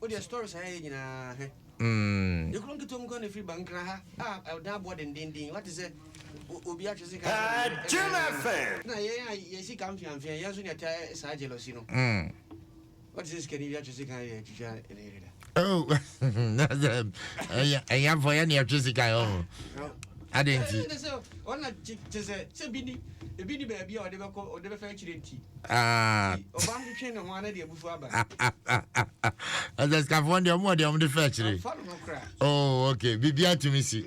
Wodeɛ story saa yɛ nyinaa hɛ. Yɛ kuro nketewa mu koraa na ɛfiri ba nkra ha a ɛdan aboɔ dendenden wate sɛ obi atwe sika sɛ na yɛn a yɛ sika mfeamfea yɛn nso na ɛta saa jealousy no wate sɛ sikani bi atwe sika yɛ twitwa ne yere da ɛyɛ afɔ yɛ ne ɛtwe sika yɛ ɔho adɛn nti ɔna te sɛ sɛ bi ni ebi ni baabi a ɔde bɛkɔ ɔde bɛfa akyire nti ɛsɛsikafoɔ deɛ ɔmo deɛ ɔmo de fɛ akyire oh ok biribi atumi si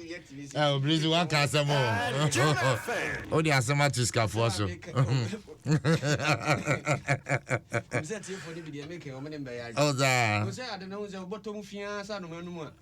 ɛ obìnrin si waka asɛm o o de asɛm ato sikafoɔ so ɔzaa.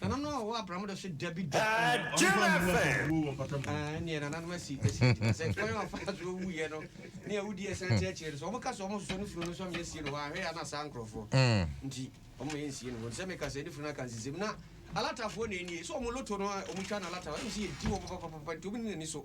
Nananom a wɔwɔ abram da so da bi da. Jim FM. Ɛnneɛ nananom asi asi gyina sɛ kwan a ɔfa so wuiɛ no ne a wodi ɛsan ti akyire no so wɔka sɛ wɔn soso ne funu no so amyɛ sie no hɔ ahwɛ a na saa nkurɔfoɔ mm. nti wɔn yɛ nsie no hɔ sɛ meka sɛ ne funu no aka nsisɛm na alatafoɔ na ɛnie sɛ wɔn loto no a wɔtwa no alata wɔn sɛ yɛdi wɔn papapapa nti wɔn nyina ni so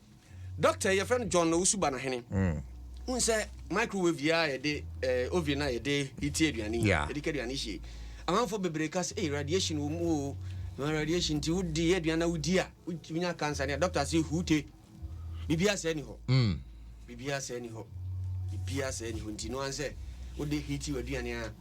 Doctor yɛfrɛ no John Owusu Banahene. Mm. N sɛ microwave yi a yɛde eh, oven a yɛde heatie aduane yi, yeah. yɛde ka aduane hyie. Amanfo bebree ka sɛ, hey, radiation wɔ mu o. Na radiation nti wodi aduane na wodi a, wonya cancer ne a doctor sɛ huute. Biribiara sɛ ni hɔ. Mm. Biribiara sɛ ni hɔ. Biribiara sɛ ni hɔ nti no ansɛ wode heatie aduane a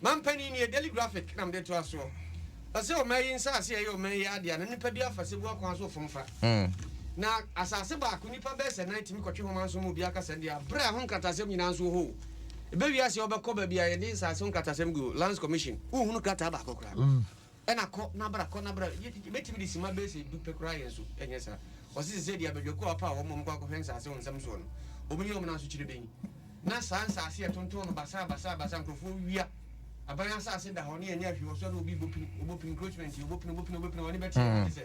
Manpanin nie, Daily Graphic na mede toa soɔ. Ɔse ɔman yi nsaase a ɛyɛ ɔman yi adeɛ a na nnipa bi afa Sebua kwan so fom fa. Na asaase baako nnipa bɛsɛ nan tumi kɔtwe homa nso ma obi aka sɛn deɛ a berɛ a ɛho nkratasɛm nyinaa nso wɔ hɔ o. Ɛbɛwie aseɛ wobɛkɔ baabi a yɛde nsaase ho nkratasɛm gu, Lands Commission, wonhunu krataa baako koraa. Ɛna kɔ na bra, kɔ na bra. Yɛbɛtumi de simma bɛyɛ sɛ du pɛ koraa yɛn so, ɛnyɛ saa? Ɔse sɛsɛɛ deɛ abadwakuo a wɔpaw wɔn ma wɔkɔ akɔhwɛ nsaase wɔ nsɛm soɔ no, wɔn ne wɔn nan so kyerɛ bɛnyi. Na saa nsaase a yɛtontɔn no basaa basaa basaa, nkorɔfoɔ wia, aban asaase da hɔ na yɛnyɛɛ hwee wɔ so a na obi rebɔ pini, ɔbɔ pini, encroachment yi, ɔbɔ pini, ɔbɔ pini, ɔbɔ pini, wɔn ani bɛteɛ, wɔn te sɛ.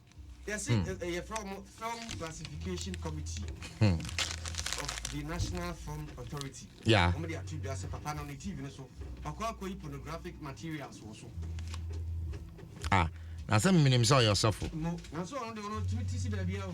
yɛse hmm. eh, eh, yɛfrɛ wɔn film classification committee hmm. of the national film authority yeah. wɔn de ato dwa sɛ papa no ne tv no so ɔkɔ akɔyi pornographic materials wɔ so ah na sɛ menim sɛ ɔyɛ ɔsɔfo nanso ɔno de ɔno tumi ti si baabi a o